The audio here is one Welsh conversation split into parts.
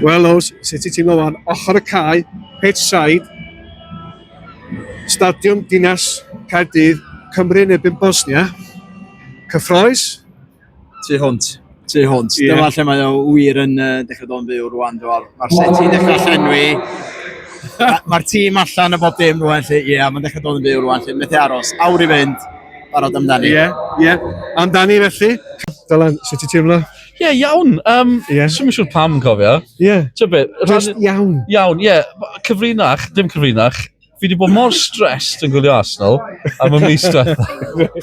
Wel Ows, sut ti'n teimlo wan? Ochr y cae, pitch side, Stadiwm Dinas Caerdydd, Cymru yn erbyn Bosnia. Cyffroes? Tu hwnt, tu hwnt. Ie. Dyma lle mae o wir yn uh, dechrau dod yn fyw rwan. Mae'r ma seti yn dechrau llenwi. Mae'r tîm allan y bob dim rwan. Ie, yeah, mae'n dechrau dod yn fyw rwan. Lle methu aros. Awr i fynd. Barod amdani. Ie, yeah, ie. Yeah. Amdani felly. Dylan, sut ti'n teimlo? Ie, yeah, iawn. Um, yeah. Swn i'n siŵr pam yn cofio. Ie. Yeah. Ti'n beth? Just iawn. Iawn, ie. Yeah. Cyfrinach, dim cyfrinach. Fi wedi bod mor stressed yn gwylio Arsenal am y mis diwetha.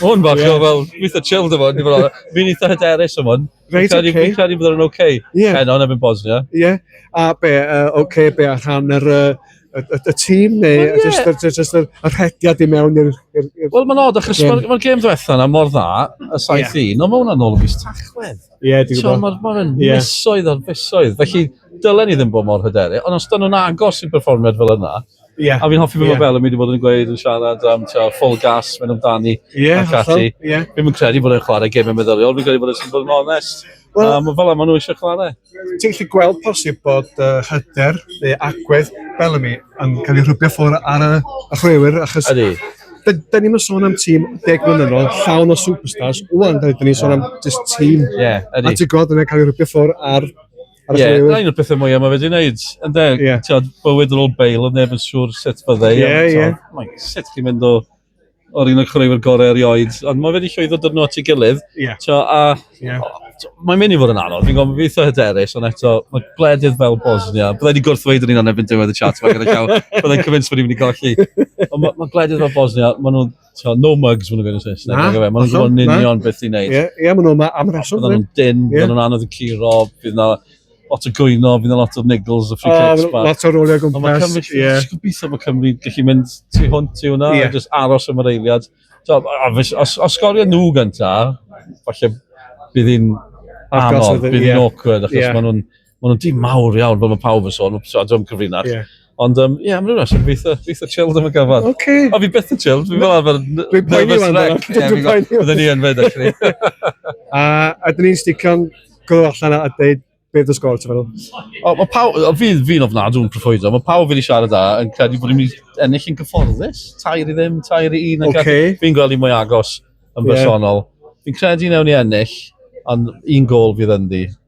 Hwn bach yeah. o fel, eitha chilled efo, ni fel, fi'n eitha hyderus am hwn. Reit, oce. Fi'n credu bod yn oce. Ie. Heno, nefyn Bosnia. Ie. A be, uh, oce, be a rhan yr... Uh, y, y, y tîm neu well, yeah. just, just, just y, y rhediad i mewn i'r... Wel, mae'n odd, achos mae'r ma gêm ddwetha yna mor dda, y saith yeah. un, ond mae hwnna'n ôl o fus tachwedd. Ie, yeah, dwi'n gwybod. Mae'n ma yeah. misoedd ar fisoedd, felly dylen i ddim bod mor hyderu, ond os dyn nhw'n agos i berfformiad fel yna, Yeah. A fi'n hoffi beth yeah. mae Bel yn mynd i fod yn gweud yn siarad am teo, full gas, mynd amdani yeah, ac ati. Yeah. Fi'n credu bod e'n chwarae gemau meddyliol, fi'n credu bod e'n bod yn onest. Wel, um, fel yma nhw eisiau chwarae. Ti'n gallu gweld posib bod uh, hyder neu agwedd Bellamy yn cael ei rhybio ffwrdd ar y, y chwaraewyr achos... Ydy. Da, da ni'n sôn am tîm deg mlynedd yn ôl, llawn o superstars, wwan da ni'n sôn am just tîm. Ie, yeah, ydy. A ti'n gweld yna cael ei rhybio ffwrdd ar Ie, yeah, na un o'r pethau mwyaf mae wedi gwneud. Yn de, yeah. ti'n bywyd yn ôl bail, oedd neb yn siŵr sut byddai. Ie, ie. Sut chi'n mynd o o'r un o'r chwaraewyr gorau erioed, ond mae wedi llwyddo dod nhw at ei gilydd. Yeah. Tio, a, yeah. Mae'n mynd i fod yn anodd, fi'n gofyn beth o hyderus, ond eto, mae gwledydd fel Bosnia, byddai wedi gwrthweud yn un o'n ebyn diwedd y chat, mae'n gyda llaw, byddai'n cyfynsu bod i'n mynd i golli. Ond mae, mae gwledydd fel Bosnia, maen nhw'n, tio, no mugs, maen nhw'n gwneud yn Saesneg, maen nhw'n gwybod yn union beth i'n neud. Ie, yeah, yeah, maen nhw'n am reswm. Byddai nhw'n dyn, yeah. byddai nhw'n anodd yn curo, bydd na, lot o gwyno, fydd yna lot o niggles a free uh, kicks. Um, lot o roliau gwmpas. Ond mae Cymru, yeah. gobeithio bod Cymru gallu mynd tu hwnt i hwnna, yeah. just aros am yr eiliad. So, os, os, os sgorio nhw gynta, falle bydd hi'n anodd, bydd hi'n yeah. awkward, achos yeah. maen nhw'n ma nhw tîm mawr iawn, fel mae pawb yn sôn, so, dwi'n cyfrinach. Yeah. Ond um, ie, yeah, mae'n rhywbeth, fi'n eitha, fi eitha chilled am y gyfan. Oce. Okay. O, fi byth yn chilled, fi'n fel arfer Dwi'n poeni nervous wan, wreck. dwi'n Ie, fi'n poeni gwybod, byddwn ni yn fed, actually. A, a dyn ni'n sticio'n gwrdd allan a dweud beth yw'r sgôr, ti'n meddwl? O, mae pawb, o, fi, fi'n ofnadw yn profoido, mae pawb wedi siarad da yn credu bod ni'n mynd i ennill yn gyfforddus. Tair i ddim, tair i un. ac Oce. Fi'n gweld i mwy agos yn Ie. bersonol. Fi'n credu newn ni ennill, ond un gol fydd ynddi.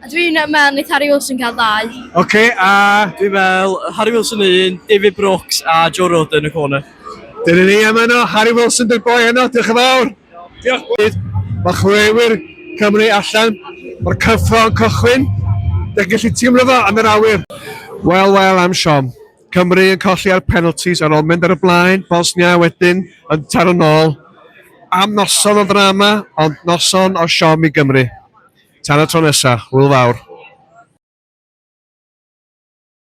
A dwi'n meddwl wneith Harry Wilson gael ddau. Ok, a... Dwi'n meddwl Harry Wilson yn un, David Brooks a Joe Rodon yn y corner. Dyna ni am yno, Harry Wilson dy'r boi yno, diolch yn fawr. Diolch bois. Mae chwaraewyr Cymru allan, mae'r cyffro yn cychwyn, da chi'n gallu teimlo fo yn yr awyr. Wel, wel am siom. Cymru yn colli ar penalties ar ôl mynd ar y blaen, Bosnia wedyn yn taro'n ôl. Am noson o ddrama, ond noson o siom i Gymru. Tan y tro nesa, hwyl fawr!